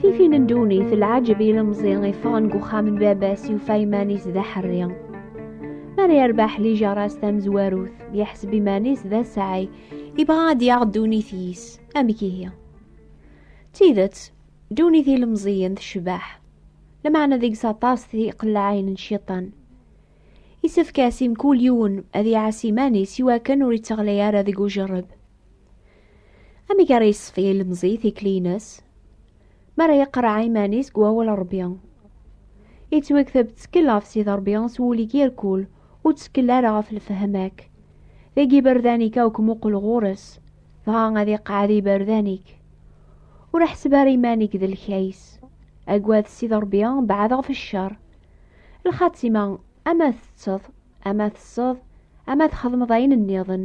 Tifi n ddunit lɛaǧeb ilemẓi iffɣen deg uxxam n baba-s yufa iman-is d aḥerri. Mi ara yerbeḥ lijaṛa-s tamezwarut, yeḥseb iman-is d asɛay, ibɣa ad d-yaɣ ddunit-is. Amek ihi? D tidet, ddunit ilemẓiyen tecbeḥ, lameɛna deg-s aṭas tiqellaɛin n cciṭan. Isefk-as i mkul yiwen ad iɛas iman-is iwakken ur itteɣlay ara deg ujerreb. Amek ara yesfi ilemẓi tikli-ines? Mi ara yeqreɛ iman-is deg wawal Ṛebbi. Yettwakteb ttkel ɣef Sidi Ṛebbi s wul-ik irkul, ur ttkel ara ɣef lefhem-ak. Deg iberdan-ik akk muqel ɣur-s, dɣa ad iqeɛɛed iberdan-ik. Ur ḥseb ara iman-ik d lkays. Agad Sidi Ṛebbi, beɛɛed ɣef ccer. Lxatima, ama tetteḍ, ama tesseḍ, ama txedmeḍ ayen nniḍen,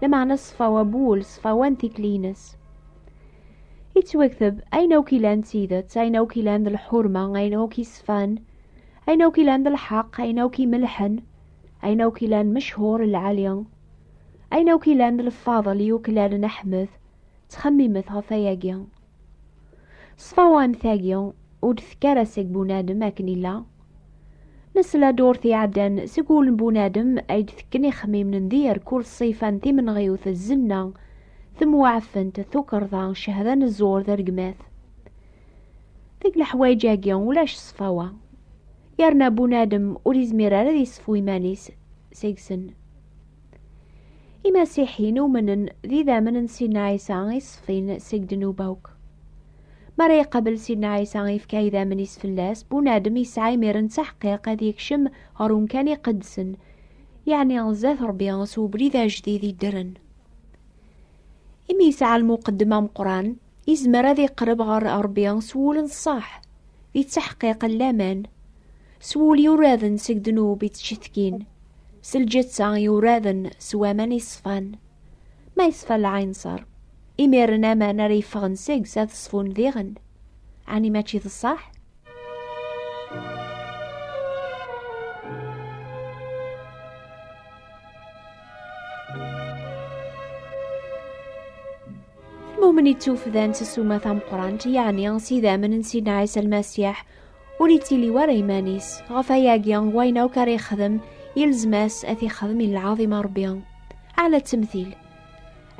lameɛna ṣṣfa wawul, ṣṣfa wan tikli-ines. Yettwakteb ayen akk ilan d tidet, ayen akk ilan d lḥurma, ayen akk isfan, ayen akk ilan d lḥeq, ayen akk imelḥen, ayen akk ilan mechur lɛali, ayen akk ilan d lfadel yuklalen Aḥmed, ttxemmimet ɣef ayagi. S tawamt-agi, ur d-tekk ara seg bunadem akken illa. Nesla durt iɛeddan seg wul n bunadem ay d-tekken ixemmimen n dir kul ṣṣifa n timenɣiwt d zenna, temweɛfent, tukerḍa, cehda n ẓẓur d rregmat. Deg leḥwayeǧ-agi ulac ṣṣfawa, yerna bunadem ur yezmir ara ad yesfu iman-is seg-sen. Imasiḥiyen umnen d idammen n Sidna Ɛisa i ṣfin seg ddnuba akk. Mi ara iqabel Sidna Ɛisa ifka idammen-is fell-as, bunadem yesɛa imir n taḥqiq ad yekcem ɣer umkan iqedsen, yeɛni zdat Rebbi s ubrid ajdid iddren. Imi yesɛa lmuqeddem ameqqran, Izmer ad iqreb ɣer Ṛebbi s wul n ṣṣeḥ, yettaḥqiq laman. S wul yuraden seg ddnub ittcetkin, s lǧetta yuraden s waman iṣfan. Ma yeṣfa lɛinṣer, imiren aman ara yeffɣen seg-s ad ṣfun diɣen. Ɛni mačči d ṣṣeḥ? Lmumen ittufdan s ssuma tameqrant yeɛni s idammen n Sidna Ɛisa Lmasiḥ ur ittili war iman-is ɣef ayagi wayen akk ara yexdem yelzem-as ad t-ixdem i lɛaḍima Rebbi ɛla ttemtil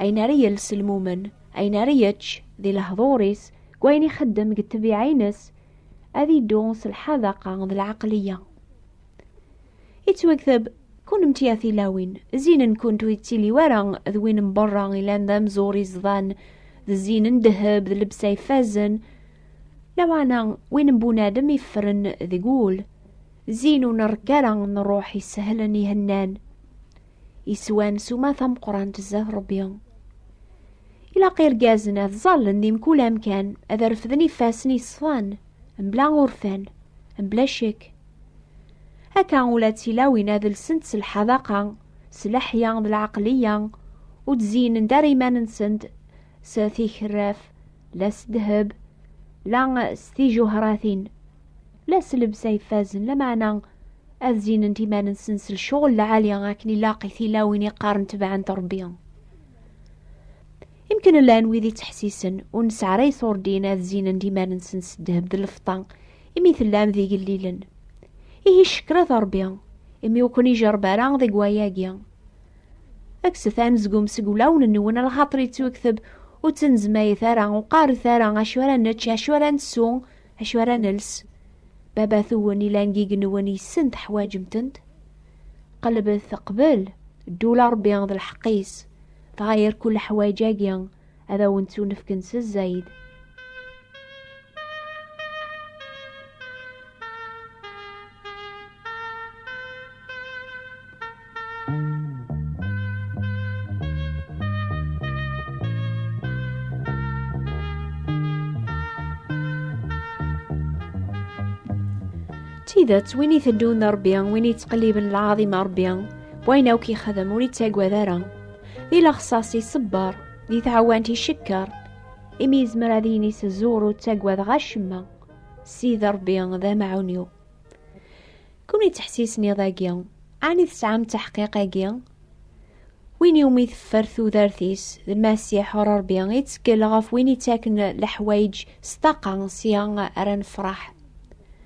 ayen ara yels lmumen ayen ara yečč di lehḍur-is deg wayen ixeddem deg ttabiɛa-ines ad iddu s lḥadaqa d lɛaqliya ittwakteb Kunemti a tilawin, zzin-nkent ur yettili wara d win n berra ilan d amzur iẓḍan, d zzin n ddheb d lebsa ifazen, lameɛna win n bunadem iffren deg wul, zzin ur nerekk ara n ṛṛuḥ isehlen ihennan, iswan s uma tameqqrant zdat Ṛebbi. Ilaq irgazen ad ẓallen di mkul amkan, ad refden ifassen iṣfan, mebla urfan, mebla ccek, Akka ula d tilawin ad lsent s lḥadaqa, s leḥya d lɛaqliya, ur d-zeynen-d ara iman-nsent s tikerraf, la s ddheb, la s tijuhratin, la s lebsa ifazen, lameɛna ad zeynent iman-nsen s lecɣel lɛali akken ilaq i tilawin iqqaren tebɛent Rebbi. Imken llan wid ittḥessisen ur nesɛi ara iṣurdin ad zeynent iman-nsen s ddheb d lfeṭṭa imi tellam d igellilen. Ihi ccekret Ṛebbi, imi ur ken-ijerreb ara deg wayagi. Kkset anezgum seg wulawen-nwen, lxaṭer yettwekteb ur ttnezmayet ara, ur qqaret ara acu ara nečč, acu ara nsew, acu ara nels. Baba-twen ilan deg-nwen yessen teḥwaǧem-tent. Qelbet qbel, ddul Ṛebbi d lḥeqq-is, dɣa yerku leḥwaǧ-agi. ad awen-ttunefken s zzayed. tidet win iteddun d Rebbi win yettqelliben lɛaḍima Rebbi wayen akk yexdem ur yettagad ara Di lexṣaṣ iṣebber, di tɛawant icekkeṛ, imi yezmer ad yini s ẓẓur ur ttagadeɣ acemma, Ssid Ṛebbi d amaɛun-iw. Kunwi ttḥessisen iḍ-agi, ɛni tesɛam taḥqiq-agi? Win iwumi teffer tudert-is, d Lmasiḥ Ṛebbi, ittkel ɣef win ittaken leḥwayeǧ s ṭṭaqa, sya ara nefṛeḥ.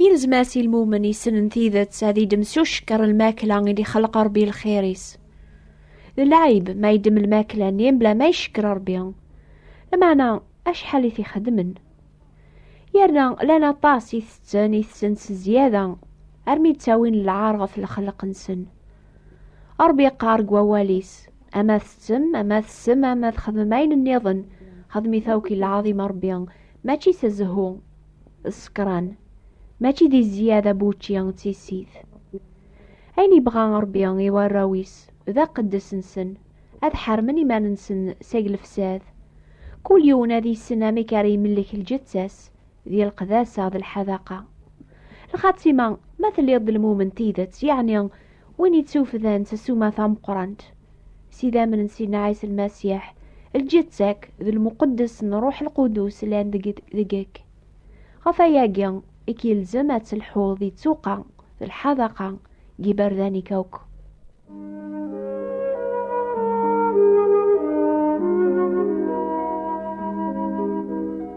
Yelzem-as i lmumen yessnen tidet ad idem s ucekker lmakla i d-ixelq Rebbi lxir-is. D lɛib ma idem lmakla-nni mebla ma icekker Rebbi. Lameɛna acḥal i t-ixedmen. Yerna lan aṭas i tetten i tessen s zzyada armi ttawin lɛar ɣef lxelq-nsen. Rebbi yeqqar deg wawal-is, ama tettem, ama tessem, ama txedmem ayen nniḍen, xedm-it akk i lɛaḍima Rebbi, mačči s zzhu. ṣekran mačči di zziyada n wučči d tissit. Ayen yebɣa Ṛebbi i warraw-is d aqeddes-nsen, ad ḥermen iman-nsen seg lefsad. Kul yiwen ad yessen amek ara imellek lǧetta-s di leqdasa d lḥadaqa. Lxatima, ma telliḍ d lmumen n tidet, yeɛni Win yettufdan s ssuma tameqqrant s idammen n Sidna Ɛisa Lmasiḥ, lǧetta-k d lmuqeddes n Ṛuḥ Lqudus llan deg- deg-k. Ɣef wayagi i k-yelzem ad telḥuḍ di ttuqa d lḥadaqa n yiberdan-ik akk.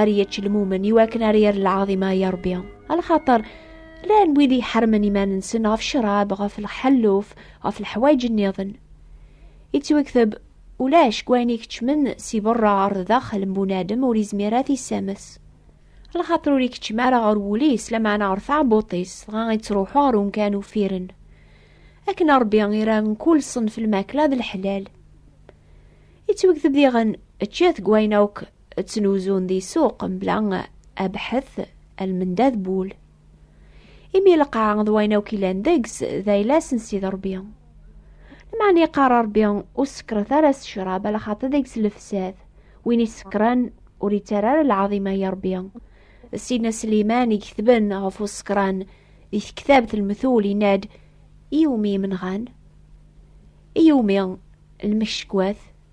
ar yečč lmumen iwakken ar yer lɛaḍima ya Rebbi alxaṭer llan wid iḥermen iman-nsen ɣef ccrab ɣef lḥelluf ɣef leḥwayeǧ nniḍen yettwakteb ulac deg wayen ikeččmen si berra ɣer daxel n bunadem ur izmir ad t-issames lxaṭer ur ikeččem ara ɣer wul-is lameɛna ɣer taɛebbuṭ-is dɣa ittruḥu ɣer umkan uffiren akken a Rebbi ira mkul ṣṣenf lmakla d leḥlal yettwakteb diɣen ččet deg wayen akk ttnuzun di ssuq mebla abḥet almenda d wul imi lqaɛa d wayen akk ilan deg-s d ayla-s n Sidi Ṛebbi lmeɛna yeqqar Ṛebbi ur sekret ara s ccrab ala xaṭi deg-s lefsad win isekran ur yettara ara lɛaḍima i Ṛebbi Sidna Sliman i iketben ɣef usekran di tektabt lmetul yenna-d i umi imenɣan i umi lmeckwat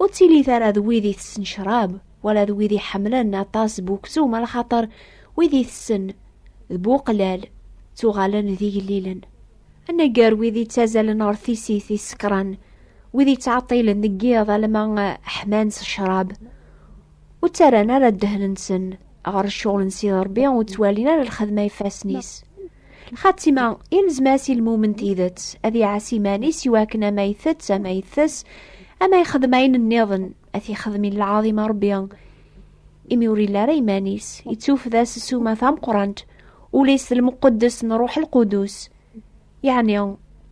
ur ttilit ara d wid itessen ccrab wala d wid iḥemmlen aṭas bu uksum ala xaṭer wid itessen d bu uqlal ttuɣalen d igellilen aneggar wid ittazalen ɣer tisit isekran wid ittɛeṭṭilen deg yiḍ alma ḥman s ccrab ur ttarran ara ddehn-nsen ɣer ccɣel n Sidi Ṛebbi ur ttwalin ara lxedma ifassen-is Lxatima, ilzem-as i lmumen tidet, ad iɛas iman-is i wakken ama itett, ama itess, ama yexdem ayen nniḍen, ad t-yexdem i lɛaḍim a Rebbi. Imi ur illa ara iman-is, yettufda s ssuma tameqqrant, ul-is d lmuqeddes n Ruḥ Lqudus. Yeɛni,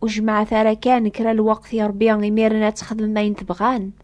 ur jemɛet ara kan kra lweqt i Rebbi imiren ad texdem ayen tebɣan.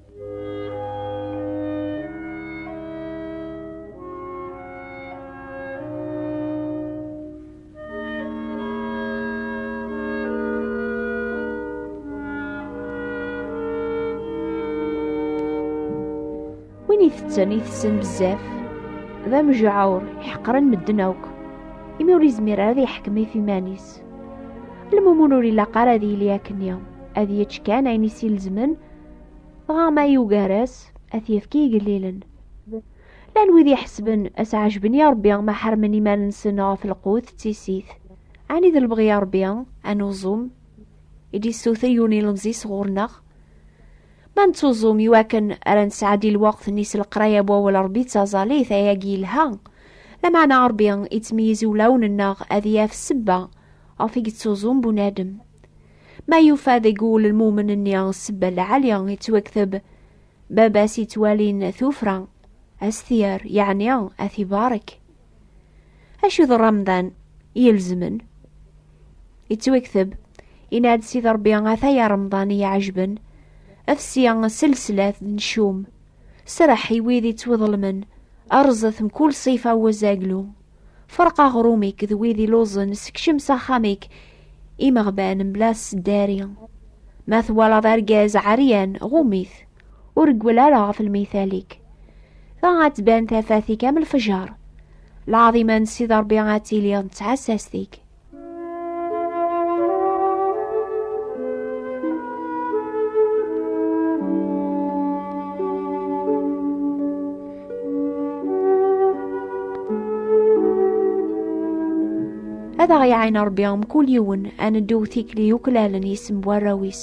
win itetten itessen bezzaf d amejɛur iḥeqren medden akk imi ur izmir ara ad yeḥkem i iman-is lmumun ur ilaq ara ad yili akken ad yečč kan ayen i s-ilezmen Ɣama yugar-as ad t-yefk i igellilen. Llan wid iḥesben ad s-ɛejben i Rebbi ma ḥermen iman-nsen ɣef lqut d tissit. Ɛni d lebɣi i Rebbi, ad nuẓum, i d-yessuter yiwen ilemẓi sɣur-neɣ? Ma nettuẓum iwakken ara nesɛeddi lweqt-nni s leqraya n wawal Rebbi d taẓallit, ayagi yelha. Lameɛna Rebbi ittmeyyiz i wulawen-nneɣ ad yaf ssebba ɣef i yettuẓum bunadem. Ma yufa deg wul lmumen-nni sebba lɛali yettwakteb, baba-s yettwalin tufra, as-t-yer, yeɛni ad t-ibarek. Acu d Ramḍan ilezmen? Yettwakteb, yenna-d Sidi Ṛebbi ata ya Ramḍan i yi-ɛejben, fsi s leslat d ncum, sreḥ i wid yettwaḍelmen, rẓet mkul ṣṣifa n wazaglu. Ferq aɣrum-ik d wid iluẓen, sekcem s axxam-ik imeɣban mebla sseddari. Ma twalaḍ argaz ɛeryan, ɣum-it, ur reggel ara ɣef lmithal-ik. Dɣa ad tban tafat-ik am lefjer, lɛaḍima n Sidi Ṛebbi ad tili d tɛessast-ik. ad aɣ-iɛin Rebbi mkul yiwen ad neddu tikli yuklalen yisem warraw-is.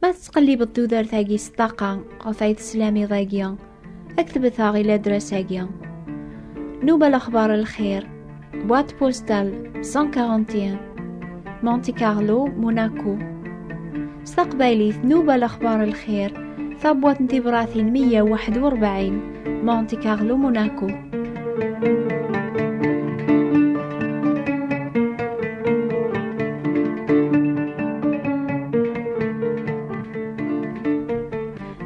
Ma tettqellibeḍ tudert-agi s ṭṭaqa ɣef ay teslam iḍ-agi, ad k-tebteɣ i ladras-agi. Nuba lexbar lxir, boîte postale 141, Monte Carlo, Monaco. S taqbaylit, nuba lexbar lxir, Tabwat n tibratin 141 Monte Carlo Monaco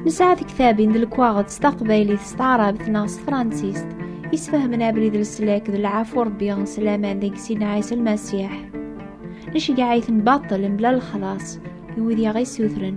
Nesɛa tektabin d lekwaɣeḍ s taqbaylit s taɛrabt neɣ s tefransist isfehmen abrid leslak d lɛafu rebbi s laman deg sin ɛisa lmasiḥ neceggeɛ-iten baṭel mebla lexlaṣ i wid i aɣ-issutren